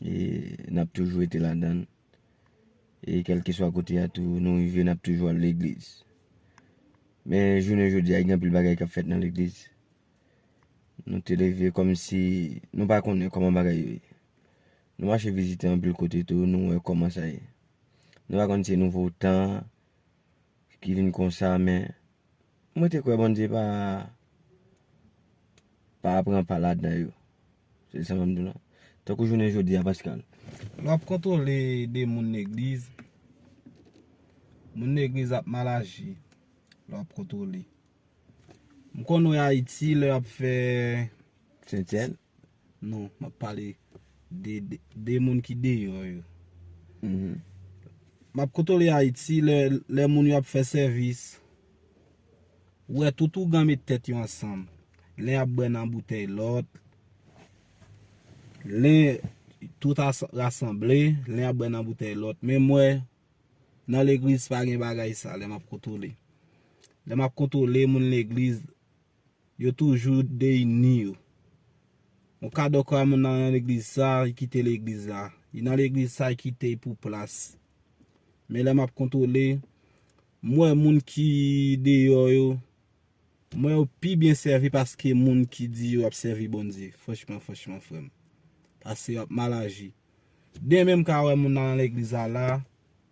E nap toujou rete ladann. E kelke swa kote a tou nou rive nap toujou al legliz. Men jounen jodi a gen anpil bagay kap fèt nan legliz. Nou te leve kom si nou pa konnen koman bagay yo ye. Nou mache vizite anpil kote tou nou wè koman sa ye. Nou pa konnen se nouvo tan ki vin konsa men. Mwen te kwe Bondye pa pa pran pa ladan yo. Se sa map di w la. Tankou jounen jodi a Pascal. Lè wap kontwole de moun legliz, moun legliz ap mal aji lè wap kontwole. M konn wè Ayiti lè yap fè. Sentsèn? Non, map pale de moun ki deyò yo. Map kontwole Ayiti lè moun yo ap fè sèvis. Wè tout ougan met tèt yo ansanm. Len ap bwè nan boutèy lòt. Len tout rasanble. Len ap bwè nan boutèy lòt. Men mwen nan legliz pa gen bagay sa lè map kontwole. Lè map kontwole moun legliz yo toujou deyini yo. Yon kado kwa moun nan yon legliz sa yi kite legliz la. Yi nan legliz sa yi kite yi pou plas. Men lè map kontwole. M wè moun ki deyò yo, m wè yo pi byen sèvi paske moun ki di yo ap sèvi Bondye. Franchman, franchman frè m. Pase yo ap mal aji. Demen m ka wè moun nan legliz la la,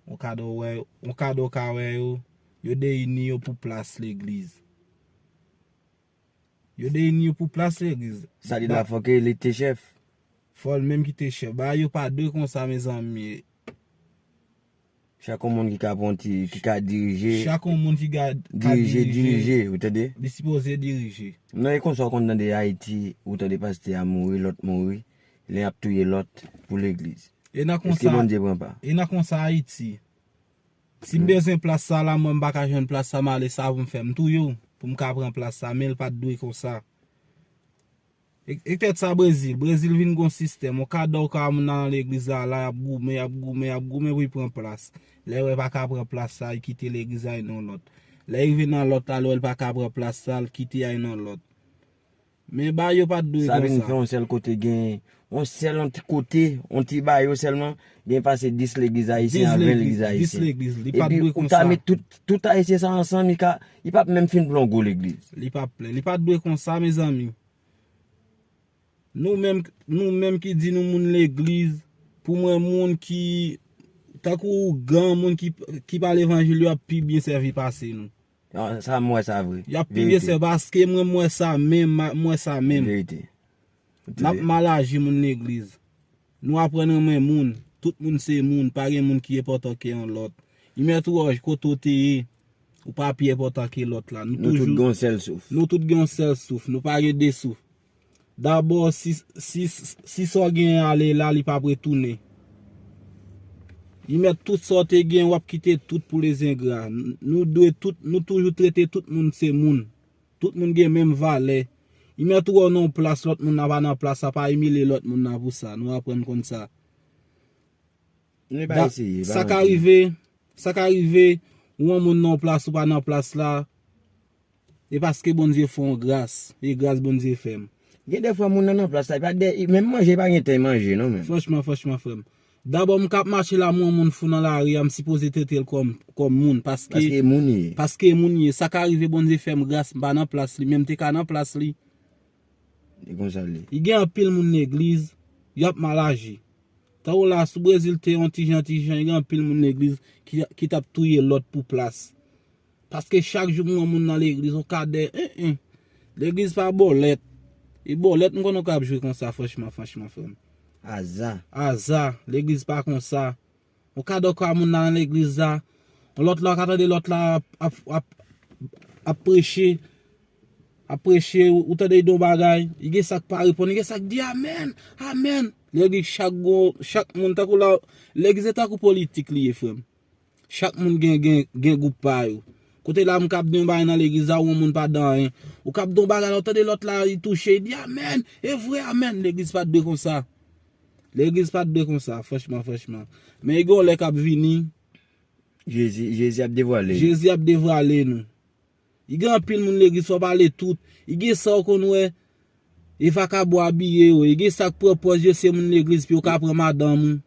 on kado wè, on kado w ka wè yo, yo deyini yo pou plas legliz. Yo deyini yo pou plas legliz. Sa di la fòk li te chèf. Fòl menm ki te chèf. Bagay yo pa dwe konsa mezanmi. Chak yon moun ki ka pran ti, ki ka dirije. Chak yon moun ki ka dirije. Dirije, ou tande? Li sipoze dirije. Non e konsa ou konn tande Ayiti, ou tande pastè a mouri, lòt mouri, len ap touye lòt pou legliz. E nan konsa. Eske Bondye pran pa? E nan konsa Ayiti. Si m bezwen plas sa la mwen m pa ka jwenn plas sa m ale savon m fè m touye w pou m ka pran plas sa men l pat dwe konsa Ektèt sa Brezil Brezil vin gon sistèm ou ka dò ou ka wè moun nan nan legliz la la y ap goumen y ap goumen y ap goumen pou y pran plas lè wè pa ka pran plas sa y kite legliz la y nan lòt lè y rive nan lòt la lè wè l pa ka pran plas sa l kite a y nan lòt. Men ba yo pat dwe konsa. Sabine fè yon sèl kote gen yon sèl yon ti kote yon ti ba yo sèlman gen pase 10 legliz ayisyen a 20 legliz ayisyen. 10 legliz li pat dwe konsa. Epi ou ta met tout ayisyen sa ansanm li ka li pap menm fin pran yon gwo legliz. Li pap plen. Li pat dwe konsa mezanmi. Nou menm nou menm ki di nou moun legliz pou mwen moun ki tankou ougan moun ki pa levanjil yo ap pi byen sèvi pase nou. Sa m wè sa vre. Yap piye sè paske mwen m wè sa menm m wè sa menm. Verite. Nap mal aji moun legliz. Nou aprann renmen moun. Tout moun se moun pa gen moun ki enpòtan ke yon lòt. Imet Roge kote ou te ye ou pa pi enpòtan ke lòt la. Nou tout gen yon sèl souf. Nou tout gen yon sèl souf nou pa gen 2 souf. Dabò si sa w genyen ale la li pap retounen. Li mèt tout sa w te genyen wap kite tout pou les ingrats. Nou dwe tout, nou toujou trete tout moun se moun. Tout moun gen menm valè. Li mèt ou wè w nan yon plas lòt moun nan pa nan plas la pa imilye lòt moun nan pou sa. Nou aprann konn sa. Sa ka rive, sa ka rive ou wè yon moun nan yon plas ou pa nan plas la. E paske Bondye fè w gras. E gras Bondye fè m. Gen de fwa moun nan nan plas la, e pa de, e menm manje e pa gen tan e manje non menm. Franchman, franchman frè m. Dabò m k ap mache la m wè yon moun fou nan lari a, m sipoze trete l kòm, kòm moun, paske. Paske e moun li ye. Paske e moun li ye. Sa ka rive Bondye fè m gras, m pa nan plas li, men m te ka nan plas li. E konsa l ye. Li gen anpil moun legliz, y ap mal aji. Tan ou la, si Brezil te yon ti jan, ti jan, gen anpil moun legliz ki, ki t ap touye lòt pou plas. Paske chak jou m wè moun nan legliz on kadè eeh legliz pa bòlèt e bòlèt m konnen ou ka ap jwe konsa franchman franchman frè m. Aza. Aza legliz pa konsa on kadè ou ka wè moun nan nan legliz la on lòt la ou ka tande lòt la ap ap preche ap preche ou tande li di on bagay li gen sa k pa reponn li gen sa k di amèn amèn legliz chak gon chak moun tankou la legliz se tankou politik li ye frè m. Chak moun gen gen gen group pa yo. Kote la m kap di yon bagay nan legliz la ou yon moun pa dan anyen. Ou kap di yon bagay la ou tande lòt la li touche li di amen, e vre amen. Legliz pat dwe konsa. Legliz pat dwe konsa franchman franchman. Men gen yon lè kap vini. Jezi ap devwale. Jezi ap devwale nou. I gen anpil moun legliz fò pale tout i gen sa ou konn wè e vakabon abiye yo e gen sak pran pòz yo se moun legliz pou yo ka pran madanm ou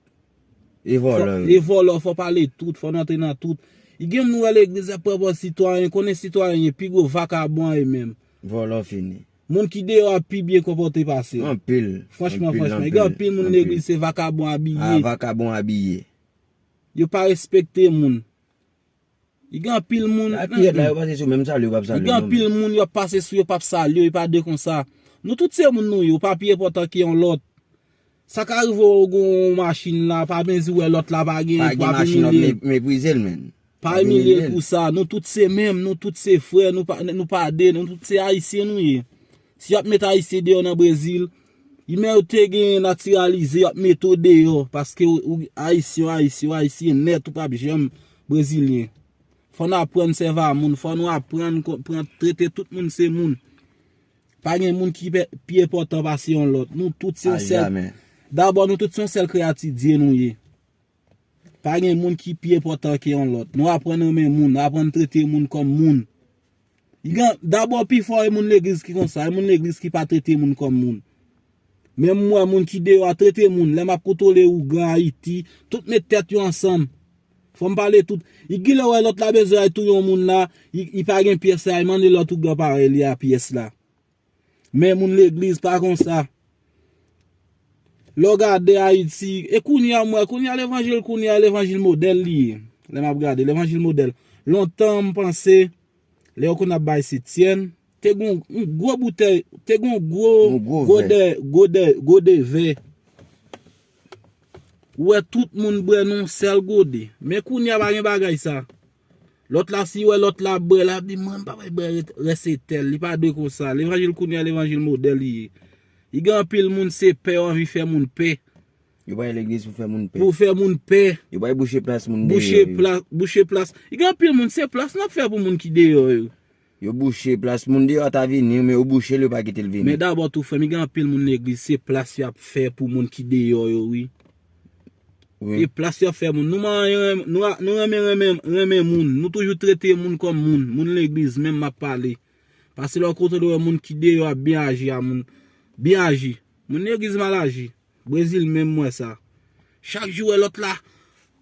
e vòlò yo e vòlò yo fò pale tout fò nou antre nan tout i gen moun ou wè legliz ap pran pòz sitwayen konnen sitwayen ye pi gwo vakabon a yo menm vòlò fini moun ki deyò a pi byen konpòte pase yo anpil franchman franchman i gen anpil moun legliz se vakabon abiye a vakabon abiye yo pa respekte moun Li gen anpil moun. Sa pired la yo pase sou menm salye yo pap salye non. Li gen anpil moun yo pase sou yo pap salye yo epa de konsa. Nou tout se moun nou ye ou pa pi enpòtan ke yon lòt. Sa ka rive ou gen yon machin la pa mezi wè lòt la pa gen wap imilye. Meprizel menn. Pa imilye pou sa nou tout se menm nou tout se frè nou pa de nou tout se ayisyen nou ye. Si yap met ayisyen deyò nan brezil, imen yo te genyen natiralize yap mete w deyò paske ou ayisyen ou ayisyen ou ayisyen nèt ou pap janm brezilyen. Fò nou aprann sèva moun, fò nou aprann pran trete tout moun se moun. Pa gen moun ki pi enpòtan pase yon lòt. Nou tout se yon sèl. Dabò nou tout se yon sèl kreyati Dye nou ye. Pa gen moun ki pi enpòtan ke yon lòt. Nou aprann renmen moun, aprann trete moun kòm moun. Dabò pi fò e moun legliz ki konsa, e moun legliz ki pa trete moun kòm moun. Menm mwen moun ki deyò a trete moun, lè map kontwole ougan ayiti, tout met tèt yo ansanm. Fòm pale tout. Y gilè wè lòt la bezwen al touye yon moun la, y pa gen pyès la, y mande lòt ougan parèy li a pyès la. Men moun legliz pa konsa. Lè w gade Ayiti, e kounye a m wè, kounye a levanjil kounye a levanjil modèl li ye. Lè m ap gade, levanjil modèl. Lontan m panse, lè yo konn ap bay septyèn, te gen yon gwo boutèy, te gen yon gwo gode, gode, gode vè. Ou wè tout moun bwè nan yon sèl gode. Men kounye a pa gen bagay sa. Lot la si wè lot la ap bwè lap di mwen pa bay bwè res se tel li pa dwe konsa levanjil kounya levanjil model li ye li gen anpil moun se pè yo anvi fè moun pè Yo bay legliz pou fè moun pè. pou fè moun pè Yo bay bouche plas moun deyò yo. bouche plas bouche plas gen anpil moun se plas nap fè pou moun ki deyò yo. Yo bouche plas moun deyò ta vini men yo bouchel yo pa kitel vini. Men dabò tou frèm gen anpil moun legliz se plas yap fè pou moun ki deyò yo wi e plas yo fè moun nou renmen renmen moun nou toujou trete moun kòm moun moun legliz menm map pale pase lè ou kontan de wè moun ki deyò ap byen aji a moun byen aji moun legliz mal aji. Brezil menm mwen sa. Chak jou wè lòt la.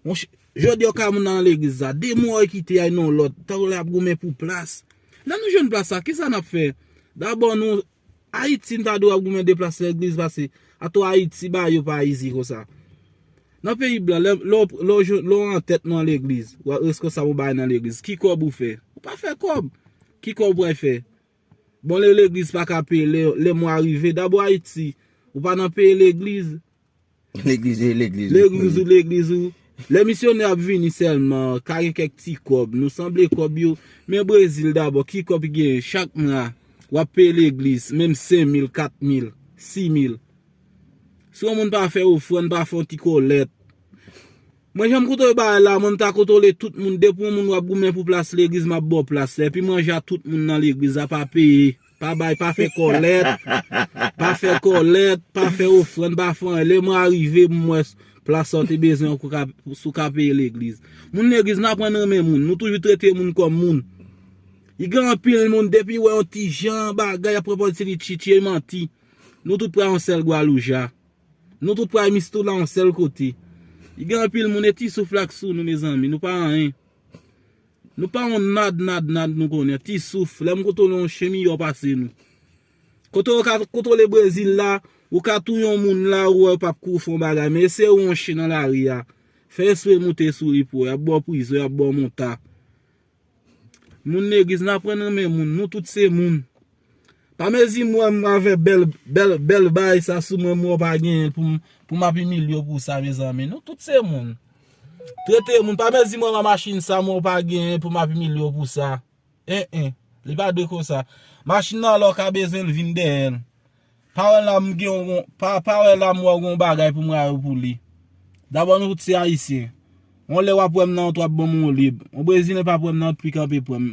Monche, jodi ok a moun nan legliz sa. Demon oy kite yay non lòt. Tankou lè yap goumen pou plas. Lè nou jwenn plas sa, kisa nap fè? Dabò nou, Ayiti nou ta dwe ap goumen de plas legliz pase. Atò Ayiti ba yo pa izi konsa. Nan peyi blan, lè, lè w, lè w jwenn, lè w antèt nan legliz. Ou reskonsab yon bagay nan legliz. Ki kòb ou fè? Ou pa fè kòb. Ki kòb ou pral fè? Bon lè legliz pa ka peye lè mwa rive dabò ayiti ou pa nan peye legliz legliz e legliz legliz ou legliz ou lè misyonè ap vini sèlman ka gen kèk ti kòb nou sanble kòb yo men brezil dabò ki kòb ki gen chak mwa wap peye legliz menm 5000 4000 6000 si yon moun pa fè ofrann pa fè yon ti kolèt Mwen janm koute bagay la mwen mta kotole tout moun depi yon moun wap goumen pou plas legliz map baw plas la epi manje a tout moun nan legliz la pa peye pa bay pa fè kòlèt pa fè kòlèt pa fè ofrann pa fè anyen lè mwen arive m wè plas sa ou te bezwen an si w ka peye legliz moun legliz nou aprann renmen moun nou toujou trete moun kòm moun li gen anpil moun depi wè yon ti jan bagay yap pran pòz se li tchitche manti nou tout pran yon sèl gwalouja. Nou tout pral mistoula yon sèl kote. Li gen anpil moun e ti souf la k sou nou mezanmi nou pa anyen. Nou pa yon nad nad nad nou konnen ti souf lè m kontwole yon chen miyò pase nou. Kote ou ka kontwole brezil la ou ka touye yon moun la ou wè yo pap kouri fè yon bagay men eseye wè yon chen nan lari a fè espre moute sou li pou wè yap baw prizon yap baw monta. Moun legliz nan aprann renmen moun nou tout se moun pa mezi m wèm avè bèl bèl bèl bay sa sou mwen m wè w pa genyen poum pou map imilye w pou sa mezanmi nou tout se moun trete moun pa mezi m wèm a machin sa m wè w pa genyen pou map imilye w pou sa en en li pa dwe konsa machin nan lè w ka bezwen l vin dèyè l Pa wè la m gen yon gon, pa wè la m wè w gen yon bagay pou m rayi w pou li. Dabò nou tout se Ayisyen. Yon lè w ap wè m nan wout w ap ban m yon lib. Yon Brezilyen pa p wè m nan wout pi kanpe pran m.